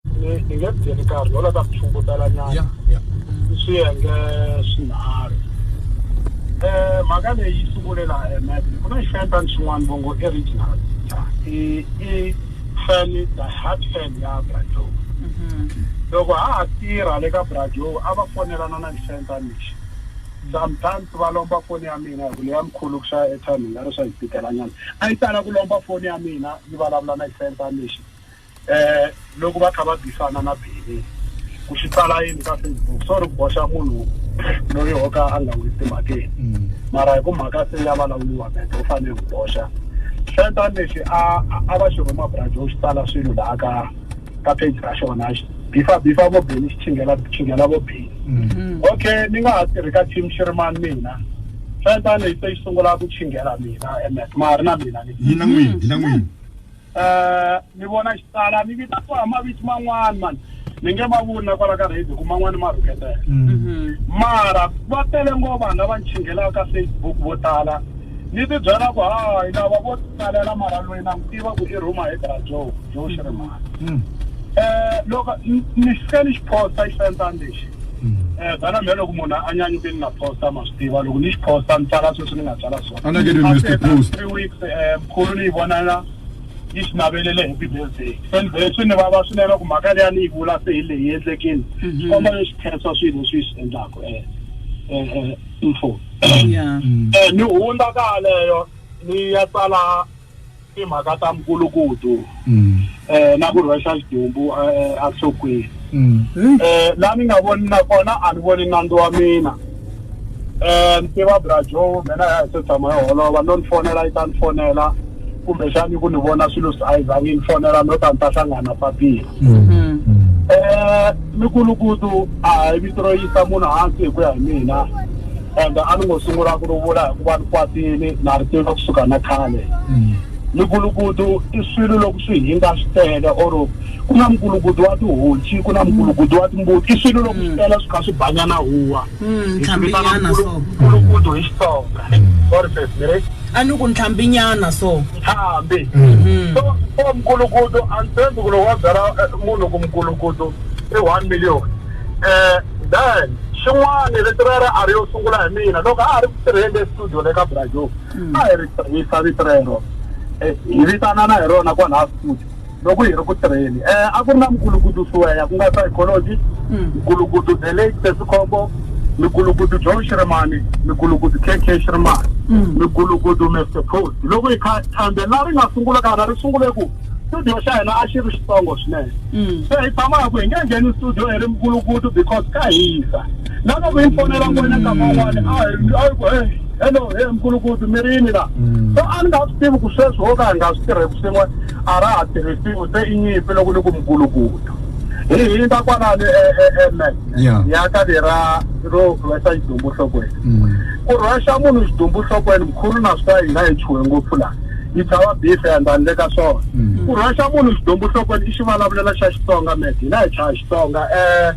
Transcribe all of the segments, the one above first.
ni ni nge byeli karhi lola ta mithungutela nyana ya ya i swiyenge swinharhu um mhaka leyi yi sungule laha emet ku na xifentan xin'wana vongo original i i fan the heart fan ya brajow loko ha ha tirha le ka brajow a va fonelana na xifentan lexi sometimes va lomba foni ya mina hi ku leya mkhulu ku xava airtime hi nga ri swa hi tikelanyana a yi tala ku lomba foni ya mina yi vulavula na xifentan lexi eh loko va kha va bisana na bini ku xi tsala yini ka facebook sorry ku boxa munhu loyi o ka a nga n'wi timhakeni mm. mara hi ku mhaka se ya vulavuriwa mente u fanele ku boxa xentan lexi a a va xi rhuma brajo xi tsala swilo laha ka ka page ra xona bifa bifa vo beni xi chingela chingela vo beni mm. okay ni nga ha tirhi ka team xi ri mani mina xentan lexi se xi sungula ku chingela mina emet ma ha ri na mina ni na n'wini na n'wini eh ni vona xitala ni vita ku a maviti man'wana mani ni nge ma vuli na kwala ka radio ku man'wana ma rhuketela mara va tele ngo vanhu lava ni chinghelaka ka facebook vo tala ni ti byela ku hayi lava vo tsalela mara loyi na n'wi tiva ku i rhuma hi bra joe joe xirimana um loko ni ni fike ni xi posta xi fentani lexi um bana mhe loko munhu a nyanyuke ni nga posta ma swi tiva loko ni xi posta ni tsala sweswi ni nga tsala Anakeni Mr. Post. three weeks um Kholo leyi vonaka yi swi navelele hi Bibelizeri. Endzeni swi ni vava swinene ku mhaka leyi a ni yi vula se hi leyi endlekile. Mhm. Xikomba lexi khensa swilo leswi yi swi endlaka eh, eh, eh, info. Yeah. Eh, ni hundza ka yaleyo ni ya tsala timhaka ta mukulukudu. mm. eh, na ku rhwexa xidumbu eh, eh, enhlokweni mm. eh, la ni nga voni na kona a ni voni nandzu wa mina eh, ni tiva brajo mina ya hi se tshama yo holova no ni fonela yi ta ni fonela kumbexani ku ni vona swilo swi a yi zangi ni fonela no ta ni ta hlangana papila mm. mm. eh, mikulukutu a hi vito ro yisa munhu hansi hi ku ya hi mina and a ni ngo sungula ku ri vula hikuva ni kwatile na ri tiva kusuka na khale mikulukutu i swilo loko swi hinga swi tele or ku na mikulukutu wa tihonci ku na mikulukutu wa timbuti i swilo loko swi tele swi kha swi banya na huwa hi swi vitana ntlhambinyana so mikulukutu hi xitsonga sorry sis ni ri a ni ku ntlhambinyana so ntlhambi so so mikulukutu a ni tshembi ku loko wa byala eh, munhu ku mikulukutu i one million Eh, Dan, xin'wana rito rero a ri yo sungula hi mina loko a ha ri ku tirheni le studio le ka Brazil. A hi ri tirhisa vito rero. Eh, hi vitanana hi rona kwalaha studio loko hi ri ku tirheni. Eh, a ku ri na Mgulukudu Siweya ku nga psychology, Mgulukudu The Late Sesikhombo, Mgulukudu Joe Shirimani, Mgulukudu KK Shirimani, Mgulukudu Mr. Post. Loko hi kha thandela ri nga sungula kana ri sungule ku studio xa hina a xi ri xitsongo swinene mm. se hi tshama hi ku hi nge ngheni studio hi ri mukulukutu because ka hisa na loko yi fonela n'wina nkama wun'wani a a yi ku e hello he mukulukutu mi rini la mm. so a ni nga swi tivi ku sweswi wo ka hi nga swi tirheki swin'we a ra ha tirhisiwi se i nyimpi loko ni ku mukulukutu hi hindza kwalani eme e, e, ya ka lera ro rhwesa xidumbu nhlokweni mm. ku rhwexa munhu xidumbu nhlokweni mkhulu na swi ta hina hi chuhe ngopfu laha yi tshava beef and handle ka swona mm. ku rhwexa munhu xidumbu nhlokweni i xivulavulela xa xitsonga med hina hi chaya xitsonga um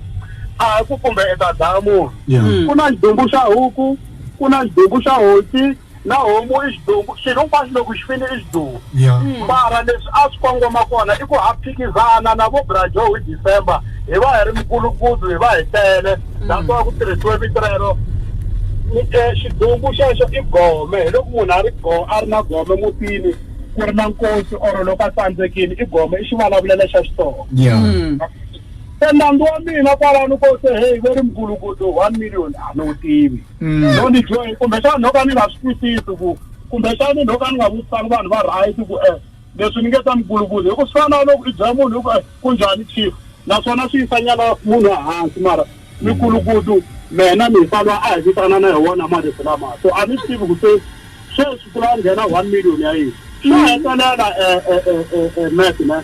a hi ku kumbe i ta dlaya munhu mm. ku na xidumbu xa huku ku na xidumbu xa hosi na homu i xidumbu xilo hinkwaswo loko xi fini i xidumbu mm. mara leswi a swi kongoma kona i ku ha phikizana na vo brajo hi december hi va hi ri mikulukudu hi va hi tele that's why ku tirhisiwe vito rero eh, xidumbu xexo i gome hi loko munhu a ri go a ri na gome mutini ku ri na nkosi or loko a tsandzekile i gome i xivulavulelo xa xitsonga yeah mm. se nandzu wa mina kwalano ko se heyi ve ri mugulugudu one million a ni wu tivi mm. no ni joyi kumbexani no ka ni nga swi twisisi ku kumbexani no ka ni nga vutisani vanhu va right ku um Leswi ni nge ta mugulugulu hi ku swi fana na loko i byela munhu hi ku eh, ku njhani chief naswona swi yisa nyana munhu ehansi mara mikulukutu mena mi hisa loyi a hi vitana na hi wona marito lama so a ni swi tivi ku se sweswi ku la nghena one million ya yini swa hetelela eh, eh, eh, eh, eh, mat ne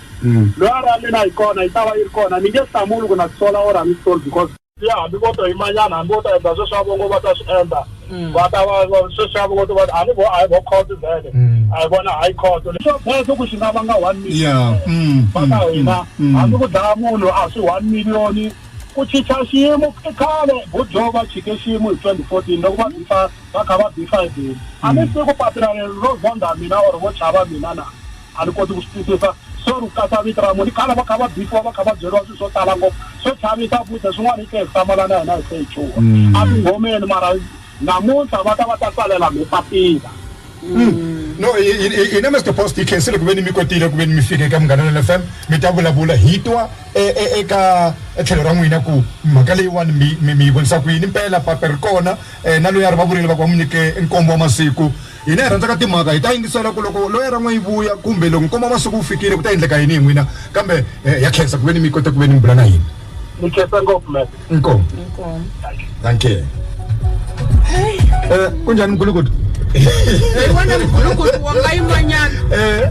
loyi a ri a mina yi kona yi ta va yi ri kona ni nge hlamuli ku na tisola or a ni sisoli because ya hambi vo to yimanyana hambi vo ta endla sweswi a vo ngo va ta swi endla va ta va va- sweswi a vo ngo to va a ni vo a hi vo court vhele a hi vona high court swa bezo ku xi nga vanga one million Yeah. Mm, va mm, ka mm, hina mm. hambi ku dlaya munhu a swi one million ku chicha xiyimo i khale budjo va chike xiyimo hi 2014 loko va bifa va kha va bifa hi beli a ni siku papila leri ro zonda mina or vo chava mina na A ni koti ku swi twisisa so ri katsa vito ra munhu. I khale va kha va bifiwa va kha va byeriwa swilo swo tala ngopfu swo chavisa futhi swin'wana hi tlhe hi hlamala na hina hi se hi chuha mm. a tinghomeni mara namuntlha va ta va ta tsalela mi papila mm. no hina mr post hi khensile ku ve ni mi kotile ku ve ni mi fika eka munghana lel f m mi ta vulavula hi twa e, e, eka tlhelo ra n'wina ku mhaka leyiwani mi yi vonisa ku yini mpela pape ri kona um na loyi a ri va vurile va ku va n'wi nyike nkombo wa masiku Hina hi rhandzaka timhaka, hi ta yingisela ku loko loya ra n'we yi vuya kumbe loko nkoma masiku wu fikile ku ta endleka yini hi n'wina kambe ha khensa ku veni mi kote ku veni mi bula na hina. Ni khensa ngopfu Matt. Inkomu. Inkomu. Dankie. Hey. Eh, kunjani mgulukudu? Hey, wena mgulukudu wa nga yimanyana. Eh.